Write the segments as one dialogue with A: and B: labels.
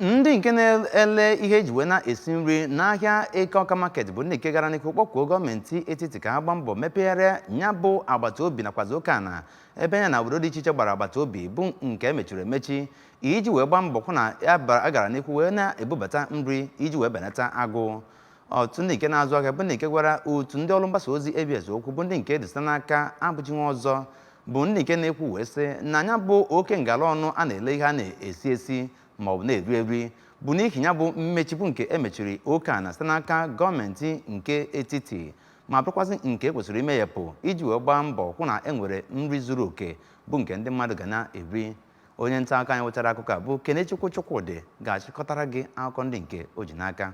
A: ndị nke na-ele ihe eji wee na-esi nri n'ahịa eke ọka market bụ ndị nke gara n'ihu kpọkuo gọọmenti etiti ka ha gbaa mbọ mepegharịa ya bụ agbata obi nakwazi oke ana ebe ya na obodo dị iche iche gbara agbata obi bụ nke emechiri emechi iji wee gbaa mbọ hụ na a gara n'ihu wee na-ebubata nri iji wee benata agụụ Otu ndị nke na-azụ ahịa bụ ndị nke gwara otu ndị ọrụ mgbasa ozi ABS okwu bụ ndị nke dị site n'aka Abụchi Nwọzọ bụ ndị nke na-ekwu wee sị na ya bụ oke ngala ọnụ a na-ele ihe a na-esi esi ma ọ bụ na-eri eri bụ n'ihi ya bụ mmechi bụ nke emechiri oke ana site n'aka gọọmenti nke etiti ma bụrụkwazị nke kwesịrị imeyepụ iji wee gbaa mbọ hụ na e nwere nri zuru oke bụ nke ndị mmadụ ga na-eri onye nta akụkọ anyị wetara akụkọ a bụ Kenechukwu Chukwudị ga-achịkọtara gị akụkọ ndị nke o ji n'aka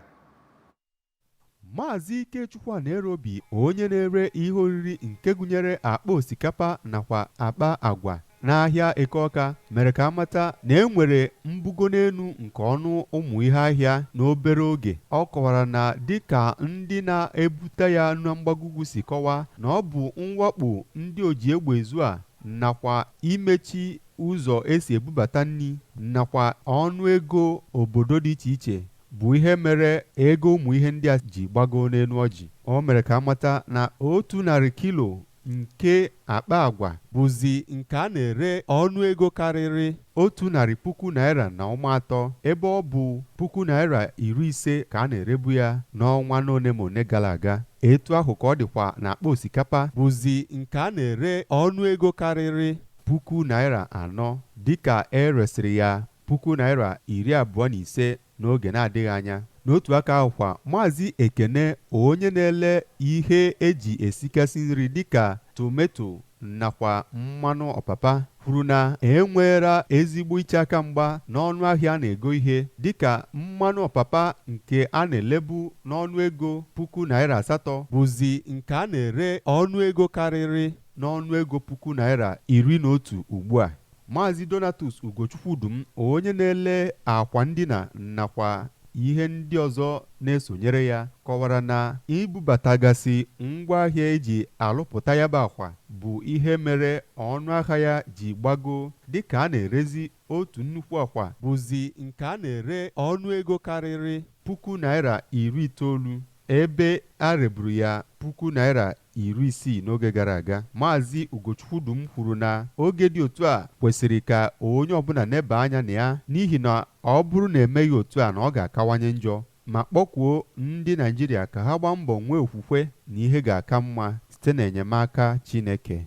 B: Maazị Ikechukwu Anaerobi onye na-ere ihe oriri nke gụnyere akpa osikapa nakwa akpa agwa n'ahịa Eke Ọka mere ka a mata na e nwere mbugo n'enu nke ọnụ ụmụ ihe ahịa n'obere oge. Ọ kọwara na dịka ndị na-ebute ya na mgbago ugwu si kọwaa na ọ bụ mwakpo ndị oji egbe ezu a nakwa imechi ụzọ esi ebubata nri nakwa ọnụ ego obodo dị iche iche bụ ihe mere ego ụmụ ihe ndị a ji gbagoo n'enu ọjị. O mere ka a mata na otu narị kilo nke akpa agwa bụzi nke a na-ere ọnụ ego karịrị otu narị puku naịra na ụma atọ ebe ọ bụ puku naịra iri ise ka a na-erebu ya n'ọnwa n'one ma one gara aga. Etu ahụ ka ọ dịkwa n'akpa osikapa bụzi nke a na-ere ọnụ ego karịrị puku naịra anọ dịka e resịrị ya puku naịra iri abụọ na ise n'oge na-adịghị anya. N'otu aka ahụ kwa, Maazị Ekene, onye na-ele ihe e ji esikasị nri dịka tometo nakwa mmanụ ọpapa, kwuru na e nweela ezigbo iche aka mgba n'ọnụ ahịa a na-ego ihe dịka mmanụ ọpapa nke a na-elebu n'ọnụ ego puku naịra asatọ bụzi nke a na-ere ọnụ ego karịrị n'ọnụ ego puku naịra iri na otu ugbua. Maazị Donatus Ugochukwu Udum onye na-ele akwa ndina nakwa ihe ndị ọzọ na-esonyere ya kọwara na ibubatagasị ngwaahịa e ji alụpụta ya bụ akwa bụ ihe mere ọnụahịa ya ji gbagoo dịka a na-erezi otu nnukwu akwa bụzi nke a na-ere ọnụego karịrị puku naịra iri itoolu ebe a reburu ya puku naịra iri isii n'oge gara aga. Maazị Ugochukwu Udum kwuru na oge dị otu a kwesịrị ka onye ọbụla nebaa anya na ya n'ihi na ọ bụrụ na emeghị otu a na ọ ga-akawanye njọ, ma kpọkuo ndị Naịjirịa ka ha gbaa mbọ nwee okwukwe na ihe ga-aka mma site n'enyemaka Chineke.